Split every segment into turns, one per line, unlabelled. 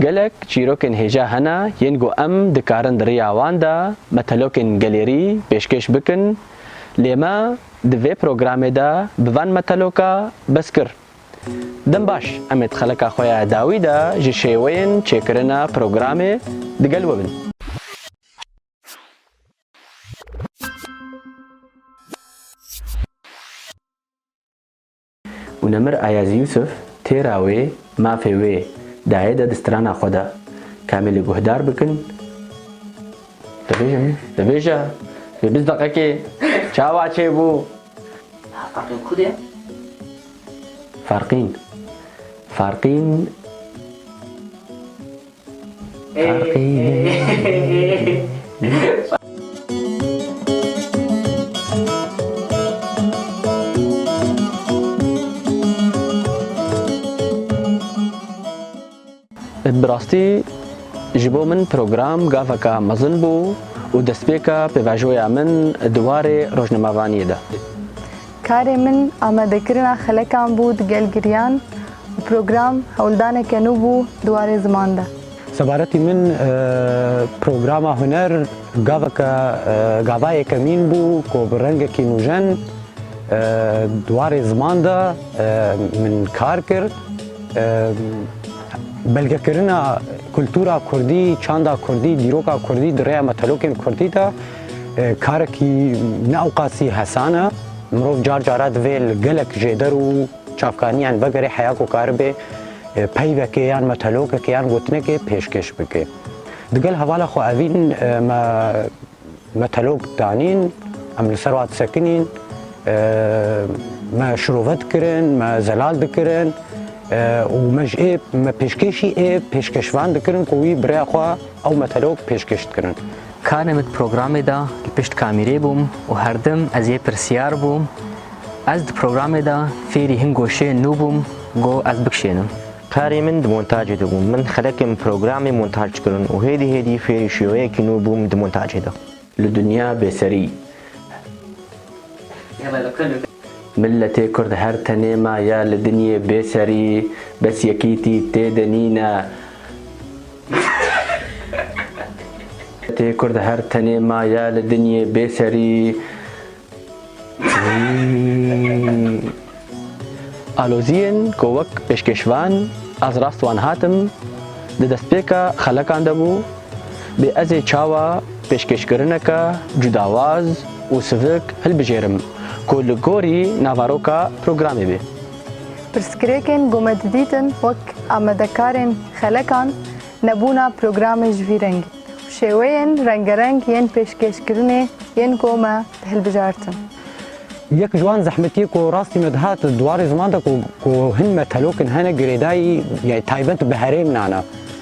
Gelek çîrokên hêja hene yên ku em dikarin di riya wan de metelokên gelêrî pêşkêş bikin lê me di vê programê de bi van meteloka bes kir. Dem baş em ê di xeleka xwe ya dawî de ji şêweyên çêkirina programê digel we bin. û Nemir Ayaz Yûsûf têra wê mafê wê dayê de di strana xwe de kamê li guhdar bikin dibêje dibêje vê biz deqekê çawa çêbû Farqîn ku de Farqîn Farqîn Bi rastî ji bo min program gaveke mezin bû û destpêka pêvajoya min di warê rojnamevaniyê de. Karê min amadekirina xelekan bû di gel giriyan û program hewldaneke nû bû di warê ziman de. Sebaretî min programa huner gaveke gavayeke mîn bû ku bi rengekî nûjen di warê ziman de min kar kir. Belgekirina kultura kurdî, çanda kurdî, dîroka kurdî di rêya metelokên kurdî de. Karekî ne ewqasî hesan e. Mirov car cara divê li gelek jêder û çavkaniyan vegerê heya ku karibe peyvekê yan metelokekê yan gotinekê pêşkêş bike. Digel hevala xwe evîn me metelok danîn, em li ser wa disekinîn, me şirove dikirin, me zelal dikirin û me ji ê me pêşkêşî ê pêşkêşvan dikirin ku wî bi rêya xwe ew metelok pêşkêş dikirin. Karê min di programê de li pişt kamîrê bûm û herdim ez yê pirsiyar bûm. Ez di programê de fêrî hin goşeyên nû bûm ku ez bikişênim. Karê min di montacê de bûm. Min xelekê min programê montaj kirin û hêdî hêdî fêrî şêweyekî nû bûm di montacê de. Li dinya bêserî. Miletê kurd her tenê ma ya li dinyê bêserî, bes yekîtî tê de nîne. Tê kurd her tenê maye li dinyê bê serî. Aloziyên ku wek pêşkêşvan ez rast wan hatim di destpêka xelekan de bû, bê ez ê çawa pêşkêşkirineke cudawaz û sivik hilbijêrim ku li gorî navaroka programê bê. Pirsgirêkên ku me didîtin wek amadekarên xelekan, nebûna programê ji vî rengî û şêweyên rengereng yên pêşkêşkirinê yên ku me dihilbijartin. Yek ji wan zehmetiyê ku rastî me dihat di warê ziman de ku hin metelokin hene girêdayî taybet bi herêmnan e.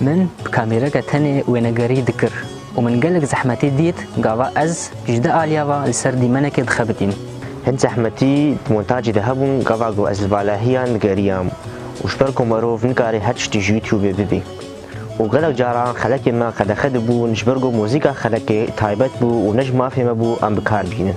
Min bi kamêreke tenê wênegerî dikir û min gelek zehmetî dît gava ez ji di aliya ve li ser dîmenekê dixebitîm. Hin zehmetî di montacê de hebûn gava ku ez li valahiyan digeriyam û ji ber ku merov nikare her tiştî ji youtubê bibê û gelek caran xelekên me qedexe dibûn ji ber ku muzîka xelekê taybet bû û ne ji mafê me bû em bi kar bînin.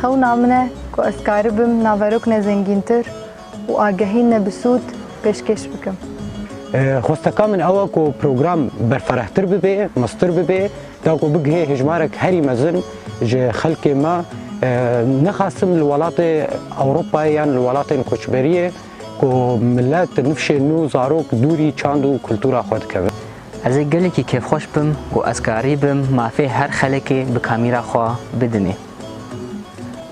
Xewna min e ku ez karibim naverok ne zengîntir û agehî ne bi sûd pêşkêş bikim. Xwesteka min ew e ku program berferehtir bibe, meztir bibe, da ku bigihê hejmarek herî mezin ji xelkê me, nixwestim li welatê Ewropayê yan li welatên koçberiyê, Ku milet di nifşên nû zarok dûrî çand û kultura xwe dikevin. Ez ê gelekî kêfxweş bim ku ez karî bim mafê her xelekê bi kamîra xwe bidinê.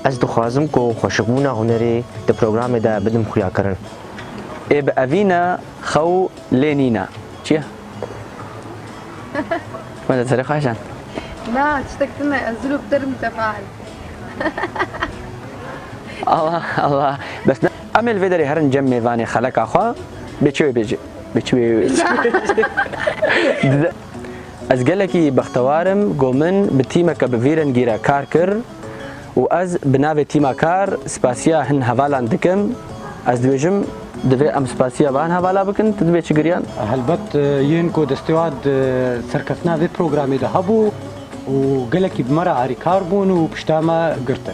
Ez dixwazim ku xweşikbûna hunerê di programê de bidim xuyakirin. Ê bi evîne xew lê nîne. Çi ye? Me de serê xweş e. Na, tiştek tune, ez zilû bi te re mutefeal. Allah Allah, bes ne. Em ê li vê derê herin cem mêvanê xeleka xwe bê çi wê bê ci. Bê çi wê wê çi wê ji. Dize. Ez gelekî bextewar im ku min bi tîmeke bi vî rengî re kar kir û ez bi navê tîma kar spasiya hin hevalan dikim. Ez dibêjim. Divê em spasiya van hevala bikin. Tu dibê çi giriyan? Helbet yên ku destêwad serkeftina vê programê de hebû û gelekî bi me re alîkar bûn û pişta me girtin.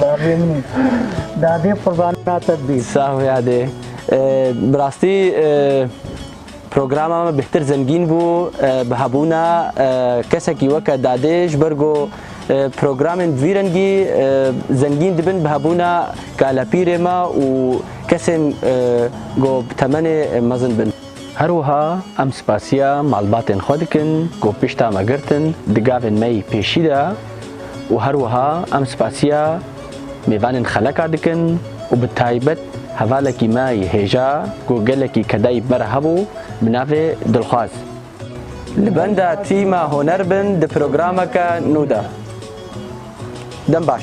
Bavê min î. Dadê qurbana te bî. Sağ ol yadê. Bi rastî programa me bêhtir zengîn bû bi hebûna kesekî weke dadê ji ber ku programên bi vî rengî zengîn dibin bi hebûna kalepîrê me û kesên ku bi temenê mezin bin. Her wiha em spasiya malbatên xwe dikin ku pişta me girtin di gavên me yî pêşî de û her wiha em spasiya mêvanên xeleka dikin û bi taybet hevalekî me yî hêja ku gelekî kedayî bi me re hebû bi navê Dilxwaz li benda tîma huner bin di programeke nû de. Dem baş.